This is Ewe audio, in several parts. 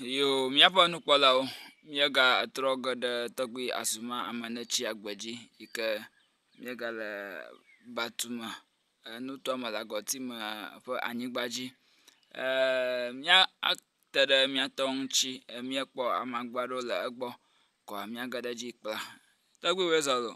Eye míaƒe nukpɔlawo míegatrɔ ge ɖe tɔgbui Azuma Amenetsiagbe dzi yi ke míegale Batume enutoamelagɔtime ƒe anyigba dzi ee mía ate ɖe mía tɔ ŋuti míekpɔ amagbe aɖewo le egbɔ koa míage ɖe edzi kpla. Tɔgbuiwɔe zɔ loo.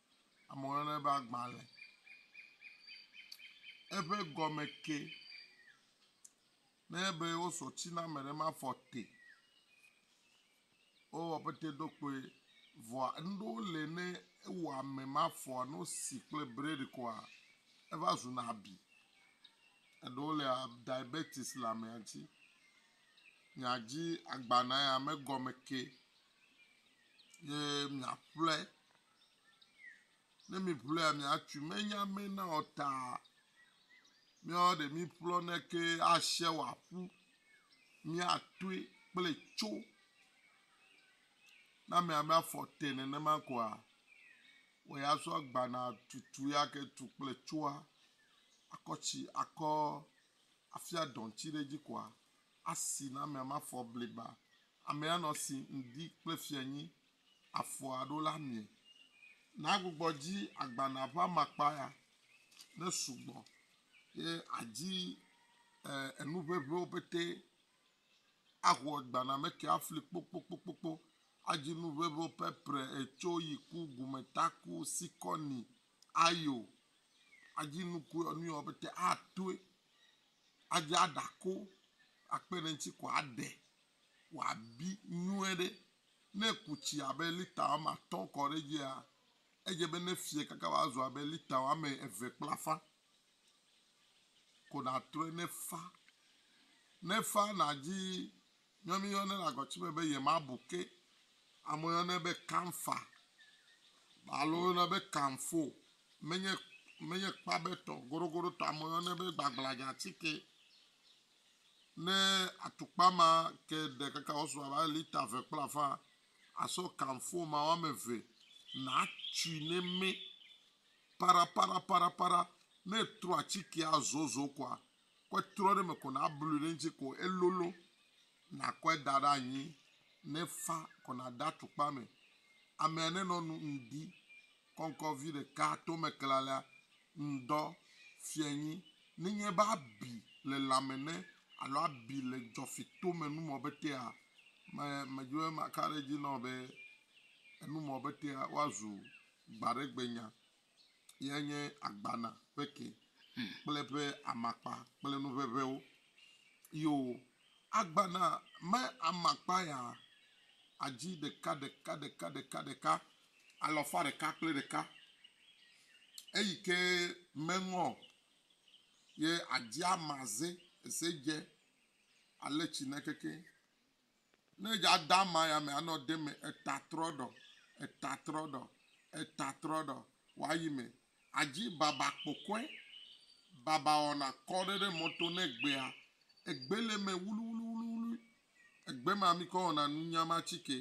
Amewo yɔnɛ be agbalẽ. Eƒe gɔme ke ne be wosɔ tsi na ame ɖe mafɔ te o. Wowɔ pete ɖo kpoe vɔa nu ɖewo le ne ewɔ ame mafɔa ne wosi kple breɖi koa eva zuna abi. Eɖewo le diabetis le amea dzi. Miadzi agbalẽa ya megɔme ke ye miaƒle Ne mi ƒlɔa mi atsu me nya me na o ta mi ɔ ɖe mi ƒlɔ ne ke ashe wa ƒu mi atue kple tso na mi ame afɔ te nenema koa wɔ ya sɔ gbana tutu ya ke tu kple tsoa akɔ tsi akɔ afia dɔn tsi ɖe dzi koa asi na mi ame afɔ bliba ame anɔ si ŋdi kple fianyi afɔa ɖo la mie. Nàgbugbɔ dzi agbalẽa ƒe amakpa ya ne sugbɔ ye àdi enu ʋeʋĩwo petɛ aho agbalẽa me ke afli kpokpokpokpo. Adi nu ʋeʋĩwo, pɛprɛ, etso, yiku, gumetaku, sikɔni, ayo. Adi nuku nu yawo petɛ atoe. Adi aɖako akpe ɖe eŋuti ko aɖe wòabi nyuie ɖe. Ne èku tsi abe lita woame atɔ̃ kɔ ɖe edzia, edze be nefiɛ kaka wòazu abe lita woame eve kple afã ko nàtrɔe ne fa. Ne fa nàdzi nyɔ míeyɔnɛ le agɔtsime be yemabu ke. Amewo yɔnɛ be kamfa alo woyɔnɛ be kamfo. Menye, menye kpabetɔ, goɖogoɖotɔ, amewo yɔnɛ be gbagbladzatike. Ne atukpa ma ke ɖe kaka wòasu abe lita eve kple afã, àsɔ kamfo ma woame eve nàtui ne mɛ paraparaparaparapara. Ne ètrɔ atikea zozo koa, kɔe trɔ ɖe eme ko nàblui ɖe eŋuti ko elolo. Nàkɔe da ɖe anyi ne fa ko nàde atukpa me. Amea nenɔ nu ŋdi kɔŋkɔ vi ɖeka tome klalea ŋdɔ fiɛ nyi nenye be abi le lãme ne alo abi le dzɔfi tome numɔ betea, me medzi be maka ɖe edzi nɔ be enumɔ betea woazu gbaɖegbenya ye nye agbana ƒe ke kple eƒe amakpa kple nu ʋeʋewo. Yo, agbana me amakpa ya adzi ɖeka ɖeka ɖeka ɖeka ɖeka alafa ɖeka kple ɖeka, eyi ke meŋɔ ye adzi ama ze eze dze ale tsi ne keke ne dza da ama ya me anɔ de me eta trɔ ɖɔ eta trɔ ɖɔ eta trɔ ɖɔ wa yi me adzi baba kpɔkɔe, babawɔna kɔ ɖe ɖe mɔto ne egbea, egbe le eme wluiwluiwluiwlui, egbe ma mi kɔ wɔna nunya ma tsike,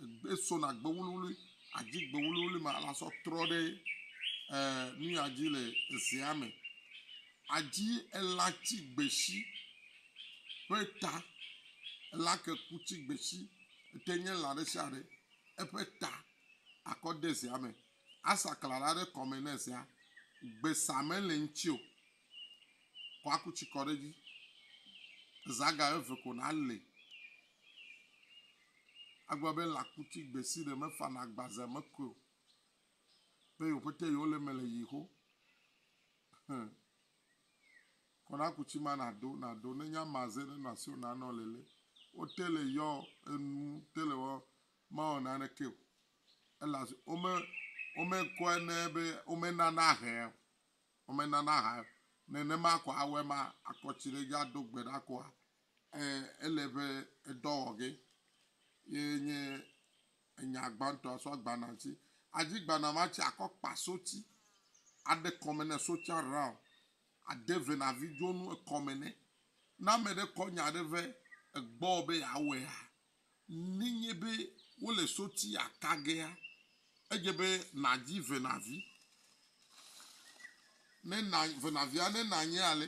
egbe sona gbe wluiwlui, adzi gbe wluiwlui ma la sɔ trɔ ɖe e, nuya dzi le ezea me, adzi ela tsi gbeshi ƒe ta, ela ke ku tsi gbeshi, ete nye la ɖe sia ɖe, eƒe ta akɔ de zea me. Asa kla la ɖe kɔme ne zea gbe sa mele ŋuti o. Kɔ aku tsi kɔ ɖe edzi. Eza ga eve ko nalé. Agblɔ be lãkuti gbe si ɖe mefana agbaze me koe o. Be yewo ƒete yewo le eme le ʋi xo. Ẽ. Kɔ ɖe aku tsi ma nàdo, nàdo. Ne nye amaze ɖe nɔ asiwò na nɔ lele. Wote le yɔ enu, te le wɔ, mawɔ naneke o. elaze wome wome kɔe ne be wome nana hɛ wome nana ha nenema kɔ awɔe ma akɔ tsi ɖe dzi ado gbe ɖa kɔa eh ele ƒe edɔ wɔ ge ye nye enya gbãtɔ sɔ gbana tsi adzi gbana ma tsi akɔ kpa so tsi aɖe kɔme ne so tsia rao ade venavi dzonu ekɔme ne na me ɖe kɔ nya ɖe vɛ egbɔ be yeawɔea Nenye be wole soti ata gea, edze be nàdi venavi. Ne na venavia ne nanye ale,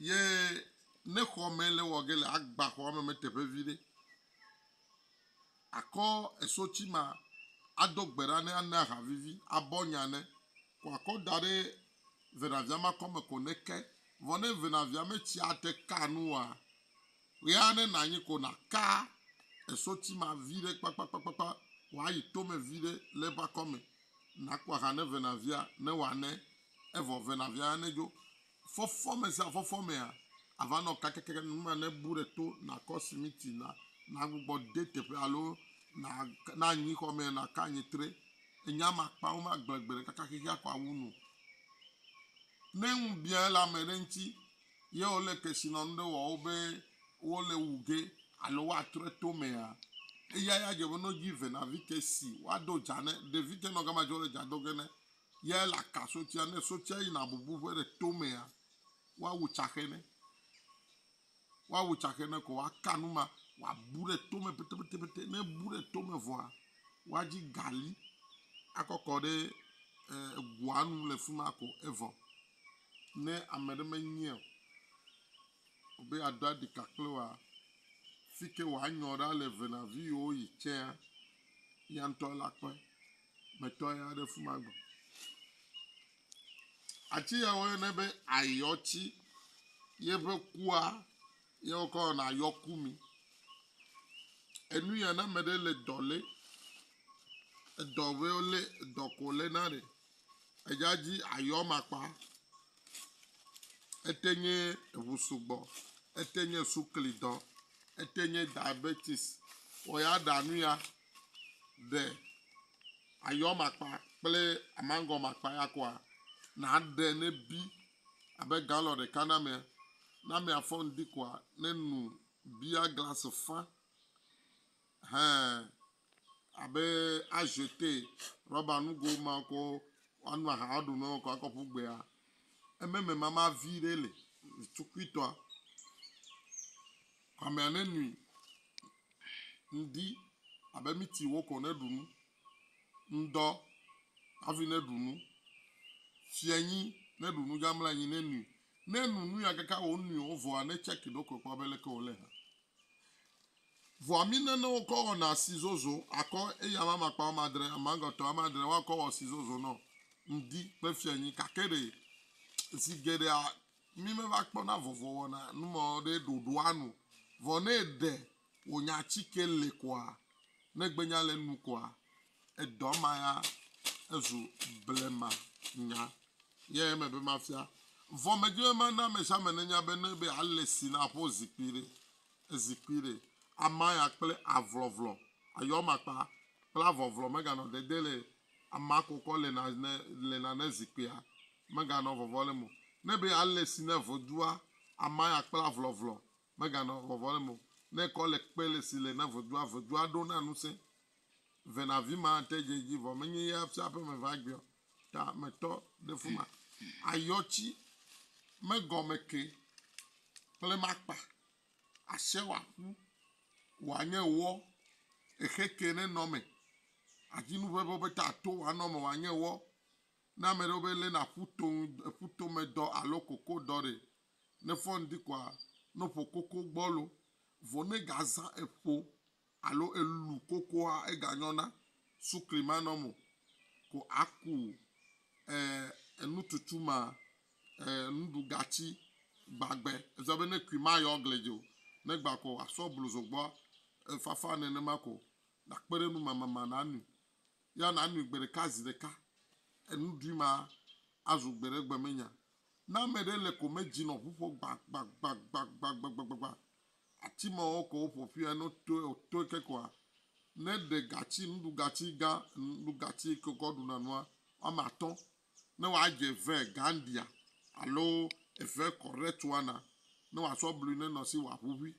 ye ne xɔ me le wɔ ge le agba xɔ me me teƒe vi ɖe, akɔ esoti ma ado gbe ɖa ne ana ha vivi abɔ nya ne kɔ akɔ da ɖe venavia makɔ me ko neke, vɔ ne venavia metsia te kaa nu oa, ɣea ne nànyi ko nàka esoti ma viɖe kpakpakpakpa wòayi tome viɖe le eƒe akɔme, nàkpɔ aha ne venavia ne wòane, evɔ venavia ya nedzo. Fɔfɔme sia fɔfɔmea, àva nɔ kakɛkɛkɛ nu ma nebu ɖe to, nàkɔ simiti na, nàgbugbɔ de teƒe alo nànyi xɔmee nàka anyi tre Enya ma kpawo magblẽ gbe ɖeka kaka xexea ko awu nu o. Ne ŋu biã le ame ɖe ŋuti ye wòle kesinɔnu ɖe wɔ wo be wole wu ge alo woatrɔe to mea, eya ya dze be no dzi venavi ke si woado dza ne. Ɖevi ke nɔ gama dze wole dza do ge ne ye ele aka sotia. Ne sotia yina bubu ƒe ɖe to mea, woawu tsaxe ne. Woawu tsaxe ne ko woaka nu ma, woabu ɖe tome petepetepete. Ne ebu ɖe tome vɔa, woadzi gali akɔkɔ ɖe egoa nu le fi ma ko evɔ. Ne ame ɖe menyae o be yeado aɖika kple woa, fi ke wòanyɔ ɖa le venaviwo yi tsɛa, ya ŋutɔ la kpɔe. Metɔ ya ɖe fi ma gbɔ. Ati ya woyɔnɛ be ayɔti, ye ƒe kua ye wokɔ wɔna ayɔkumi. Enu ya ne ame ɖe le dɔ le, edɔ be wole edɔ ko le na ɖe edza dzi ayɔ makpa. Ete nye eŋu sugbɔ, ete nye sukli dɔ, ete nye diabetis wɔ ya ɖa nu ya. ɖe ayɔ makpa kple amangɔ makpa ya koa? Nàɖe ne bi abe galɔn ɖeka na amea. Ne amea fɔ ŋdi koa, ne nu bia glasi fã hẽ abe azete, rɔba nugo ma wokɔ anu aha aɖu nɔ wokɔ akɔ ƒu gbea, ememe mama vi ɖe li, tukuitɔa. Hamea ne nui ŋdi abe miti wokɔ ne ɖu nu, ŋdɔ hafi ne ɖu nu, fianyi ne ɖu nu gamla anyi ne nui. Ne nu nui akaka wò nui o vɔa ne tsɛki ɖokui kpɔ abe leke wòle hã. Vɔa mi ne ne wokɔ wɔna asi zozo akɔ eyi ame amakpa wɔme adre amagɔtɔ ame adre woakɔ wɔ asi zozo nɔ ŋdi kple fianyi gake ɖe zi geɖea Mí me va kpɔ na vɔvɔ wɔna numɔ ɖe ɖoɖo anu. Vɔ ne ɖe wo nya ci ke le kɔa, ne gbe nya le nu kɔa, edɔ ma ya ezu blema nya. Yɛ eme be ma fia. Vɔ me dzi be ma na amesiame ne nya be ne be a le si na ƒo zikpui ɖe, ezikpui ɖe, ama ya kple avlɔvlɔ, ayɔmakpa kple avɔvlɔ me ga nɔ dede le Amea kokɔ le na ne le na ne zikpuia meganɔ vɔvɔ le mo. Ne be ale si ne vodua amea ya kpla vlɔvlɔ meganɔ vɔvɔ le mo. Ne kɔ le kpe le si le ne vodua vodua ɖo na ŋusẽ ve na vi ma te dze edzi vɔ menye ya fia ƒe me va gbeɔ ta me tɔ ɖe fuma. Ayɔtsi megɔme ke kple makpa. Ashe wòaƒu, wòanye wɔ, exe ke ne nɔ me. Azi nu ʋeʋe wobe ta to wòanɔ me wòanye wɔ. Ne ame ɖewo be lena ƒu to ŋu ƒu to me dɔ alo koko dɔ ɖe, ne fɔ ŋdi koa, no ƒo koko gbɔlo. Vɔ ne gazã eƒo alo elu kokoa eganyɔna sukli manɔm o ko aku e enututu ma e nuɖugatsi gbagbe eza be ne kui mayɔ gli dzi o ne gba ko asɔ blu zogbɔ e fafa nenema ko nakpe ɖe nu mama ma nanui ya nanui gbe ɖeka zi ɖeka enuɖui ma azu gbe ɖe gbe menya ne ameɖe le ko medzi nɔ ʋuƒo gbagbagbagbagbagbagba Ati mawo ko woƒo ƒui ane wotoe wotoe ke koa? Ne ɖe gatsi nuɖugatsi gã nuɖugatsi ke wokɔ ɖuna nua woame atɔ̃ ne woadze eve gandia alo eve kɔɖɛtuana ne wòasɔ blui ne nɔ si wòaʋuʋui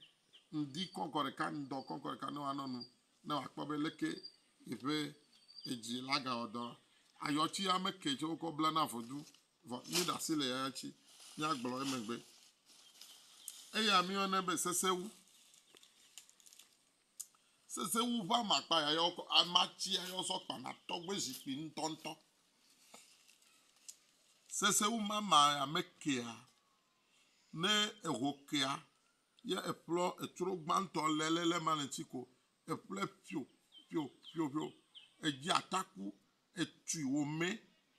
ŋdi kɔŋkɔ ɖeka ŋdɔ kɔŋkɔ ɖeka ne wòanɔ nu ne wòakpɔ be leke yeƒe edzi la gawɔ dɔ ayɔtsi ame ke tsɛ wokɔ blana vodzu Vɔ míeɖe asi le yayra tsi míagblɔ emegbe. Eya míeyɔnɛ be sesewu. Sesewu ƒe amakpa ya yɔ kɔ amatsi ya yɔ sɔ kpana tɔgbe zikpui ŋutɔŋutɔ. Sesewu mama ya mekea ne eho kea ye eƒlɔ etsro gbãtɔ lelele ma le ŋtsi ko eƒlɛ ƒio ƒio ƒio ƒio edzi ataku etui wòmɛ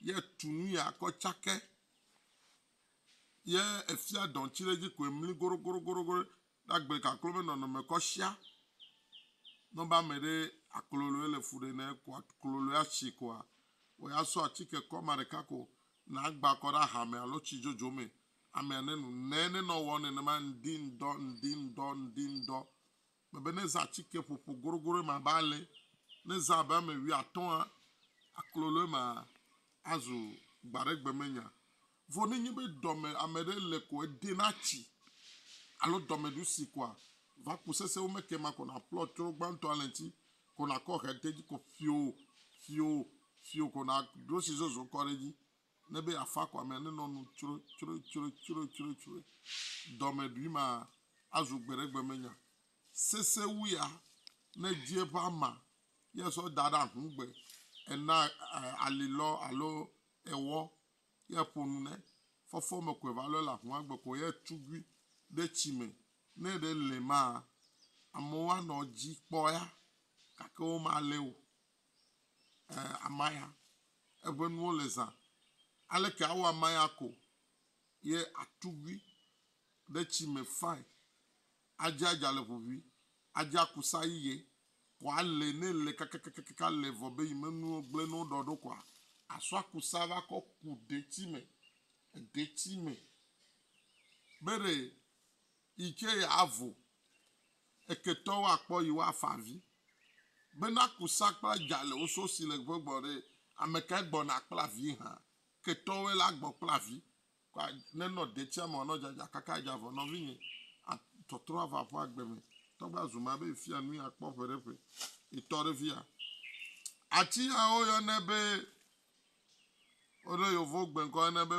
yɛ etu nu ya kɔ cake yɛ efia dɔŋtsi ɖe dzi ko emli goɖogoɖogoɖo ɖe agble kaklo be nɔnɔme kɔ shia. Ne wobe ame ɖe akloloe le fu ɖe nɛ ko akloloe ashi koa, wɔ ya sɔ atike kɔ ame ɖeka ko na agba kɔ ɖe aha me alo tsi dzodzo me. Amea nenu. Nɛ ne nɔ wɔ nenema ŋdi ŋdɔ ŋdi ŋdɔ ŋdi ŋdɔ Mebe ne zã atike ƒoƒo goɖogoɖo ema abe ale, ne zã abe ame wuiatɔ̃a, aklolo ema azu gbaɖegbemenya. Vɔ ne nye be dɔme ame ɖe le ko ede na tsi alo dɔmeɖusi koa, va ku sese wo me ke ema ko naƒlɔ tsro gbãtɔa le ŋti ko nakɔ ɣededzi ko fio fio fio ko naɖo tsi zozo kɔ ɖe edzi ne be yeafa kɔ amea nenɔ nu tsroetsroetsroetsroetsroe. Dɔmeɖui ma azu gbeɖegbemenya sesẽ wu ya ne edzi eƒe ama ye sɔ da ɖe ahũgbe, ena alilɔ alo ewɔ ye ƒo nu ne fɔfɔ me koe va lɔe le ahũa gbe ko ye tugui ɖe tsi me. Ne eɖe lɛ maa, amewo anɔ edzi kpɔa gake womalée o. e, amaya, eƒe nuwo le zã. Aleke awɔ amaya ko ye atugui ɖe tsi me fae, adze adza le ʋuʋui, adze akusa yiye, kɔ ale ne le kakakakaka ale vɔ be yi menuwo gblẽ ne woɖɔ ɖo kɔa, asɔ akusa va kɔ ku detsi me, edetsi me. Be ɖe yi ke yeavo eketɔwo akpɔ yi woafa avi bena kusa kple adza le wo so si le ƒe gbɔ ɖe amekae gbɔna kple avi hã ketɔwoe la gbɔ kple avi kɔ ne nɔ detsia me nɔ dzadza kaka adza vɔ nɔvinye a tɔtrɔ ava ƒe agbe me tɔgbe azu ma be fia nui akpɔ ƒe ɖe ƒe etɔ ɖe fia ati ya woyɔne be woɖo yovo gbenkɔ ne be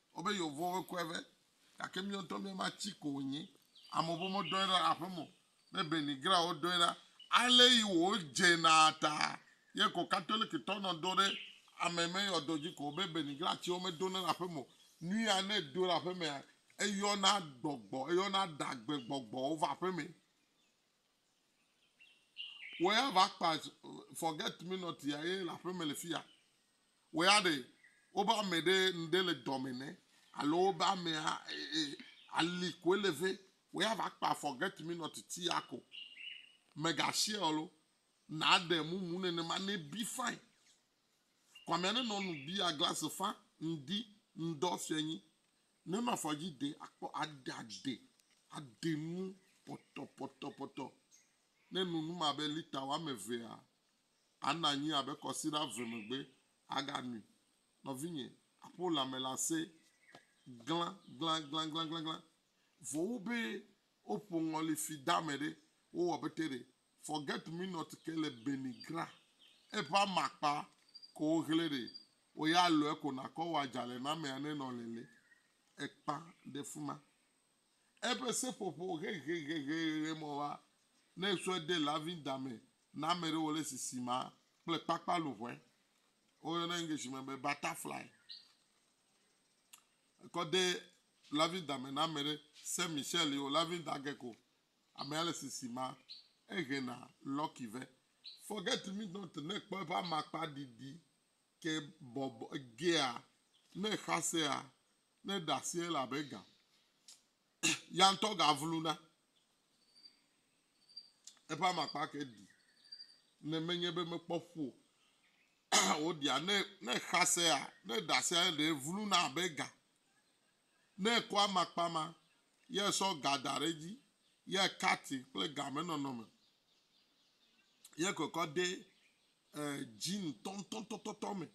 Wobe yewovo be kɔe vɛ. Gake míawo ŋutɔ mía ma tsi ko wònyi. Amewo be womedɔe ɖa aƒe me o. Be Benny Graham wodɔe ɖa. Ale yi wòdze na ta ye ko Katolikitɔ nɔ do ɖe ame me yɔ do dzi ko. Be Benny Graham tsi womedona ɖe aƒe me o. Nu ya ne edo ɖe aƒe mea, eyɔna gbɔgbɔ, eyɔna ɖagbegbɔgbɔwo va aƒe me. Wò ya va kpa forget me not ya ye le aƒeme le fiya. Wò ya ɖe wobe ame ɖe ŋɖe le dɔme nɛ alo wobe amea ali koe le vɛ. Wò ya va kpa forget me not ti ya ko. Mega share o lo. Na ɖe mumu nenema ne bi fine. Kwamea nenɔ nu bia glass fa ŋdi ŋdɔ fianyi Ne mafɔ dzi de akpɔ aɖe aɖe aɖe nu pɔtɔpɔtɔpɔtɔ ne nu num abe lita woame evea, ana anyi abe kɔsiɖa eve megbe aganui. Nɔvinye, aƒo lãme le ase glãglãglãglãglã. Vɔ wu be woƒo ŋɔli fi dame ɖe, wowɔ bete ɖe Forget Me Not ke le Benny Gra eƒe amakpa ko wohlẽ ɖe wo ya lɔe ko nakɔ wɔ adzalenamea ne nɔ lele ekpa ɖe fima. Eƒe seƒoƒo hehehehehehe mɔ wa ne sɔe de loving da me na ame ɖe wole sisi ma kple kpakpa luʋɔe wo yɔna English me be butterfly. Ekɔ de loving da me na ame ɖe Saint Michel yo loving da gecko Amea le sisi ma ehe na lucky ve. Forget me not ne kpɔ eƒe amakpa ɖiɖi ke bɔbɔ gea ne xasea ne ɖasi ele abe ga. Ya ŋutɔ ga vlu na. Eƒe amakpa ke ɖi ne menye be mekpɔ ƒu o. Woɖia ne ne xasea ne ɖasia ɖe vlu na abe ga. Ne ekɔ amakpa ma, ye esɔ ga da ɖe edzi, ye ekati kple ga me nɔnɔ me, ye kɔkɔ de e, dzi ŋutɔŋutɔŋutɔtɔ me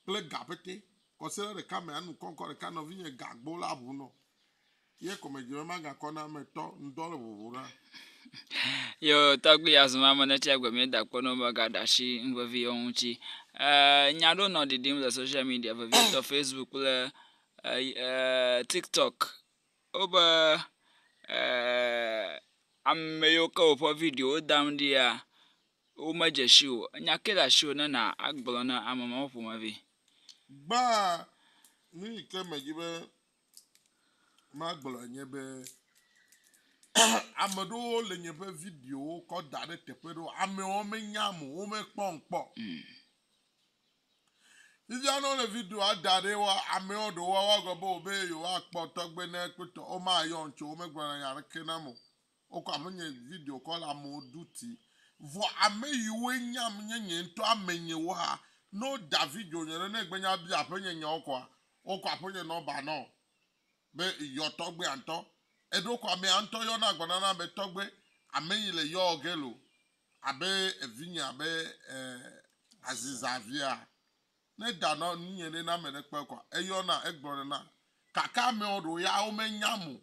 kple ga pete, kɔsiɖe ɖeka me anu kɔŋkɔ ɖeka nɔvinye ga gbɔ la ʋu nɔ, ye kɔmedzi me magakɔ na ametɔ ŋdɔ le ʋuʋu na. Yo tɔgbi ya zɔn ame ne tsia gbe mi da kpɔ nɔmba ga da shi vevi yɔ ŋutsi. Eee nya ɖo nɔ ɖiɖim le soshial midia vevi tɔ fesbuk kple eee tiktɔk. Wo be eee ame yiwo ke woƒe video wo dam ɖia wo me dze shi o. Enya ke le ashiwò ne na agblɔ na ame mawo ƒomevi. Gbã nu yi ke me dzi be magblɔe nye be ame ɖewo le nye ƒe videowo kɔ da ɖe teƒe ɖewo amewo menyam o womekpɔm kpɔ fifia ne wole videoa da ɖe wa amewo ɖewo woagblɔ be wobe yewoakpɔ tɔgbe ne kpɔtɔ womayɔm tso womegblɔna nya aɖeke nam o Wokɔ ame nye video kɔ le amewo ɖu ti. Vɔ ame yiwoe nyam nye nye ŋtɔ ame nye wo xa. Ne woda video nye ɖe ne egbe nye abia aƒenye nya wo kɔa, wokɔ aƒenye nɔmba nɔ be yɔ tɔgbea ŋtɔ. Eɖo kɔ amea ŋtɔ yɔ na gbɔna na be tɔgbe ame yi le yɔ ge lo abe evinye abe eh Aziza via. Ne eda nɔ nu nye ɖe ne ame ɖe kpɔe kɔa, eyɔ na egblɔ ɖe na. Gake amewo ɖewo ya wo me nyam o.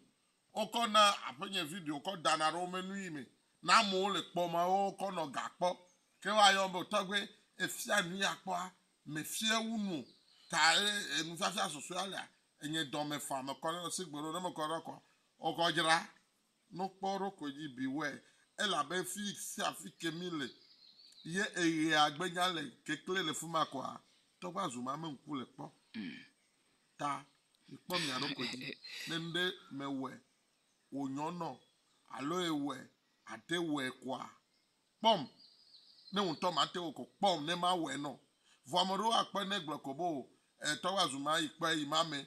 Wo kɔ na aƒe nye video kɔ dana ɖe wo me nuyi me na amewo le kpɔ ma wo kɔ nɔ ga kpɔ ke wa yɔ be tɔgbe efia nuyi akpɔa me fie wu nu ta e enu fiafia susue alia enye dɔ me fa me kɔ ɖe se gbe ɖo ne me kɔ ɖe kɔ wo kɔ dzra no kpɔ ɖo koe dzi bi wɛ elabe fi sia fi ke mi le ye eɣea gbe nya le kekle le fima kɔa tɔgba zuma me ŋku le kpɔ. ta mikpɔ mia ɖokui dzi ne ŋɖe mewɔe wònyɔ nɔ alo ewɔe ate wɔe koa? Kpɔm ne ŋutɔ mate wɔ ko kpɔm ne mawɔe nɔ. Vɔ ame ɖewo akpɔe ne gblɔe ko be o e tɔgbe azu ma yi kpɔe yi ma me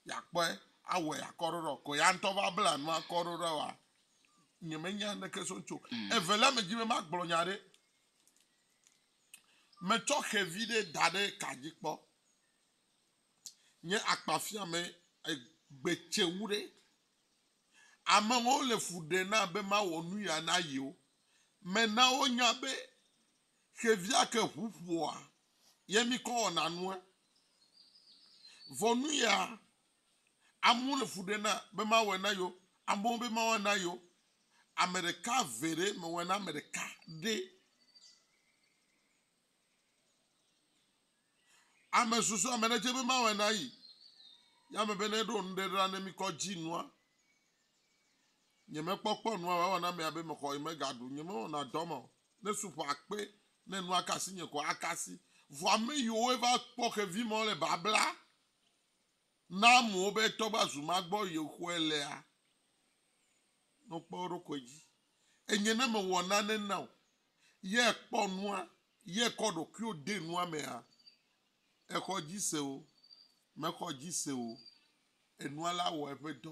yakpɔe awɔe akɔ ɖoɖɔ ko ya ŋutɔ va bla nu akɔ ɖoɖɔ wa nye me nya neke so ŋutso. Mm. Evelia me dzi be ma gblɔ nya ɖe. Me tsɔ xevi ɖe da ɖe ka dzi kpɔ. nye akpafiame egbetsewu ɖe? Amewo le fu ɖe na be mawɔ nu ya na yewo. Mena wonya be xevia ke ŋu ƒoa ye mikɔ wɔna nua. Vɔ nu ya amewo le fu ɖe na be mawɔe na yewo. Amewo be mawɔe na yewo. Ame ɖeka ve ɖe mewɔe na ame ɖeka ɖe. Ame susɔ ame ɖe dze be mawɔe na yi. Ya ame be ne ɖo nu ɖe ɖa ne mi kɔ dzi nua. Nye me kpɔ kpɔ nua wa wana mea be me xɔ yi me ga ɖu. Nye me wɔna dɔ ma o. Ne su ƒo akpe ne nua kasi nye ko akasi. Vɔ ame yi wo va kpɔ xevi ma wo le babla. Na amewo be tɔ va zu ma gbɔ yexɔe lea no kpɔ eɖokɔe dzi. Enye ne me wɔ nane na o ye kpɔ nua ye kɔ ɖokuio de nua me hã. Exɔ dzi se o mexɔ dzi se o enua la wɔ eƒe dɔ.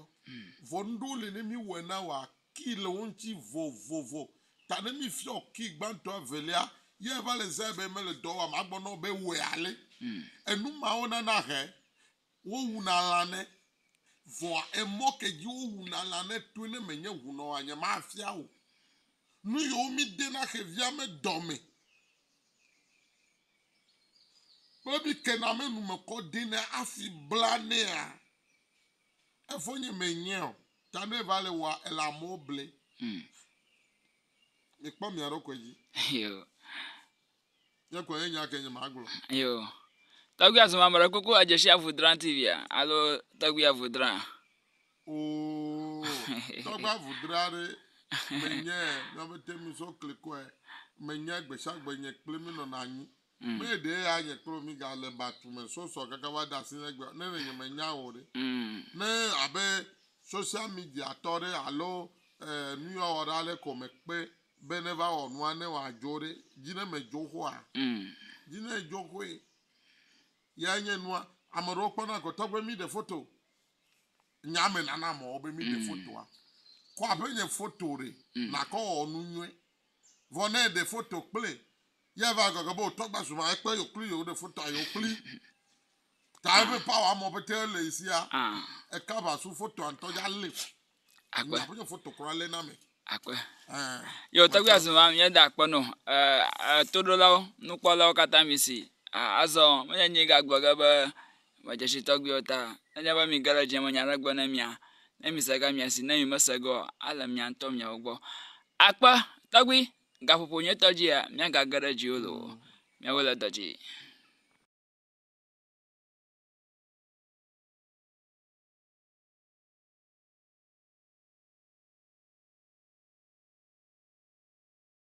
Vɔ nuɖewo le ne mi wɔe na wɔ Ki le wo ŋuti vovovo. Ta ne mi fiɔ ki gbãtɔ evelia, ye eva le zãe be mele dɔ wɔam agbɔ na wo be wɔe ale. Enu mawo nana he wo wuna lã ne. Vɔa emɔ ke dzi wo wuna lã ne toe ne me nye ŋunɔ wa nye ma fia wo nu yewo mi de na xevia me dɔ me kple mi ke na me nu me kɔ de na afi bla nea. Efonye me nyɛ o. Ta ne va le wɔa ele amewo ble. Hmm. Mi kpɔ mia ɖo kɔe dzi. Yo. Nye kɔe nye nya ke nye ma gblɔ. Yo. Tɔgbi azu ma mele koko adze shi avu dran TV a alo tɔgbi avu dran. Oo. Tɔgbi avu dran re. Me nyɛ mia bete mi so klikɔe. Me nyɛ gbesha gbe nye kple mi nɔ na nyi. Mee ɖee ya nye kple wò mígale batu me sɔsɔ kaka va ɖe asinye egbea, ne ɖe nyemenya wò o ɖe. Ne abe social media tɔ ɖe alo nuyɔwɔɖe aɖe ko mekpe be neva wɔ nua ne wòadzo ɖe, dzi ne medzo xoa? Dzi ne edzo xoe yae nye nua. Ame ɖewo kpɔna ko tɔgbe míɖe foto. Nya me nanam ɔ be míɖe fotoa, kɔ aƒenye foto ɖe nakɔ wɔ nu nyuie. Vɔ ne eɖe foto kple ye ava gɔgɔ be wotɔ gba zuma ekpe yo kpli yo ɖe fotoa yo kpli ta eƒe power mɔ pete le isia e cover su fotoa ŋtɔ ya le akpe aƒe yo foto kura le na me akpe yo tɔgbi azuma mi da akpe no eh to do lawo nu kpɔ lawo kata mi si azɔ me nye nyi ga gblɔ ge be me dze si tɔgbi wo ta ne nye be mi ge le dzi me nya ɖe gbe ne mia ne mi se ga mia si ne mi me se ge o ale mia ŋtɔ mia wo gbɔ Akpe, tɔgbui, gaƒoƒo nyuitɔ dzia, míagage ɖe dziwò loo, míawoe le dɔ dzi.